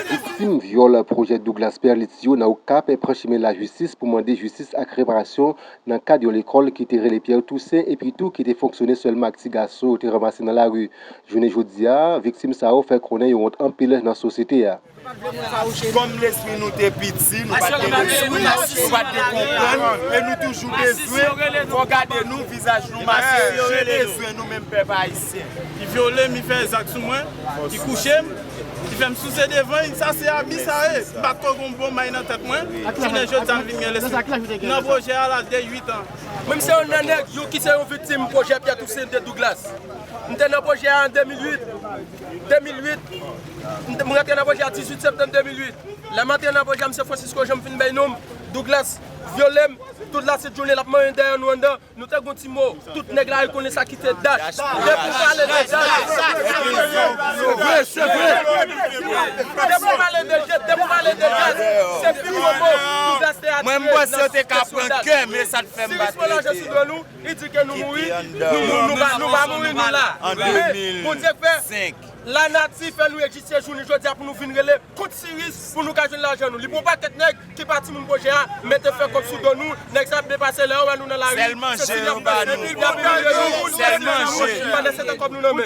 Viktim vyòl pwojè Douglas Perlitz yo nan Okap pran chimen lajistis pou mande jistis ak reparasyon nan kad yon lekòl ki te rele Pierre Toussaint epi tou ki te fonksyone sèlman ak ti gason yo te ranmase nan lari. Jounen jodi a, viktim sa yo fè konnen yo wont anpil nan sosyete a. Kòm lespri nou te piti, nou pa t gen lespri, nou pa t gen konprann, e nou toujou bezwen, fò gade nou, vizaj nou maske, je bezwen nou menm pèp ayisyen. Ki vyole m ki fè zak sou mwen ki kouche m ki fè m souse devan l sa se abi sa ye m pa t ko gon bon may nan tèt mwen jounen jodi a m vin gen lespri nan pwojè a laj de 8 an. Mwen m se yon nan nèg yo ki se yon viktim pwojè Pyè Tousen de Douglas m te nan pwojè a an 2008. 2008, M m rantre nan pwojè a 18 septanm 2008. Lè m antre nan pwojè a, Msye Francisco Jean m fin bay non m, Douglas, vyole m, tout latit jounen l ap manyen dèyè nou anndan, nou te gen yon ti mo, tout nèg la rekonnen sa ki te dat. Depi w pale de dat, se pi gwo mo Douglas te atire nan sou dat. Siris Paul Argent sou do nou. Li di ke nou mouri, nou pa mouri nou la. Men, Bondye fè lanati fè nou egziste jounen jodi a pou nou vin rele kont Siris pou nou ka jwenn lajan nou. Li pran yon pakèt nèg ki pa timoun pwojè a, mete fè kòb sou do nou, nèg sa ap depase lè yo wè nou nan lari, se sou li yap pase epi yap imilye nou, nou pa gen anyen nan poch, nou pa nesesite kòb nou nan men.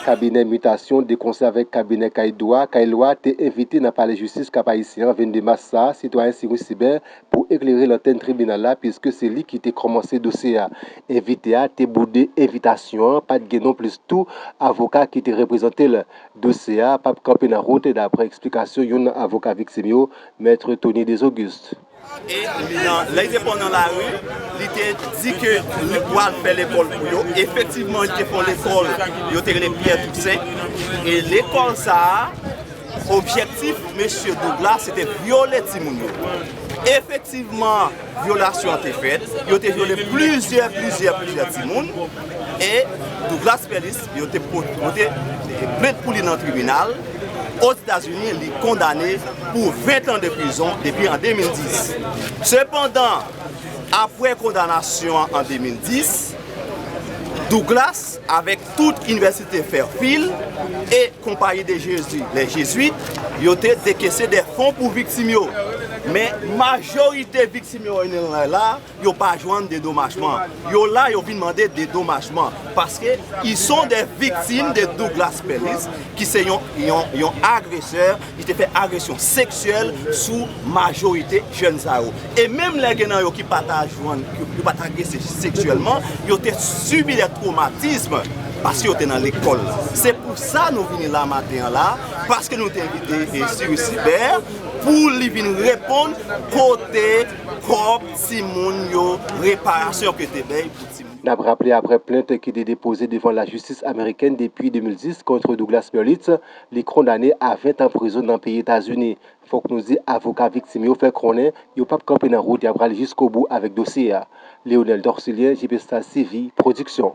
Kabinè mitasyon de konsè avèk kabinè kay dwa, kay lwa te envite nan Palè Jistis Kap Ayisyen an 22 mas sa a sitwayen Cyrus Sibert pou eklere lantèn tribinal la piske se li ki te kòmanse dosye a. Envite a te boude envitasyon an, pat gen non plis tou avoka ki te reprezante l. Dosye a pap kanpe nan wout daprè eksplikasyon youn nan avoka viktim yo, Mèt Tony Desauguste. E li nan, lè li te pran nan lari, li te di ke li pwal fè lekòl pou yo. Efektivman, li te fon lekòl yo te rele Pierre Toussaint. E lekòl sa a, objektif mesye Doug la, se te vyole timoun yo. Efektivman, vyolasyon an te fèt. Yo te vyole plizyè, plizyè, plizyè timoun. E Douglas Fellis, Yo te pote plent pou li nan tribinal Ozetazini, li kondane pou 20 tan de prizon depi an 2010. Sepandan, apre kondanasyon an an 2010, Douglas avèk tout Inivèsite Fairfield e Compagnie de Jésus, les Jésuites, yo te dekese dè fon pou viktim yo. Men majorite viktim yo, Renel Rayla, Yo pa jwenn dedomajman. Yo la yo vin mande dedomajman paske ils sont des victimes de Douglas Pellis ki se yon agresè ki te fè agresyon seksyèl sou majorite jèn sa yo. E menm lè gen nan yo ki pa ta jwenn, yo pa ta agrese seksyèlman, yo te sibi des traumatismes paske yo te nan lekòl la. Se pou sa nou vini la maten an la paske nou te envite Cyrus Sibert pou li vin reponn kote Kob timoun yo reparasyon ke te bèy pou timoun yo. Nap raple aprè plent ki te depoze devan la jistis amerikèn depi 2010 kont Douglas Berlitz, li kondane a 20 tan prizon nan peyi Etazini. Fok nou di avoka viktim yo fè konnen yo pap kanpe nan wout ya pral jiskobou avèk dosye a. Leonel Dorcilien, Jpestas TV, Production.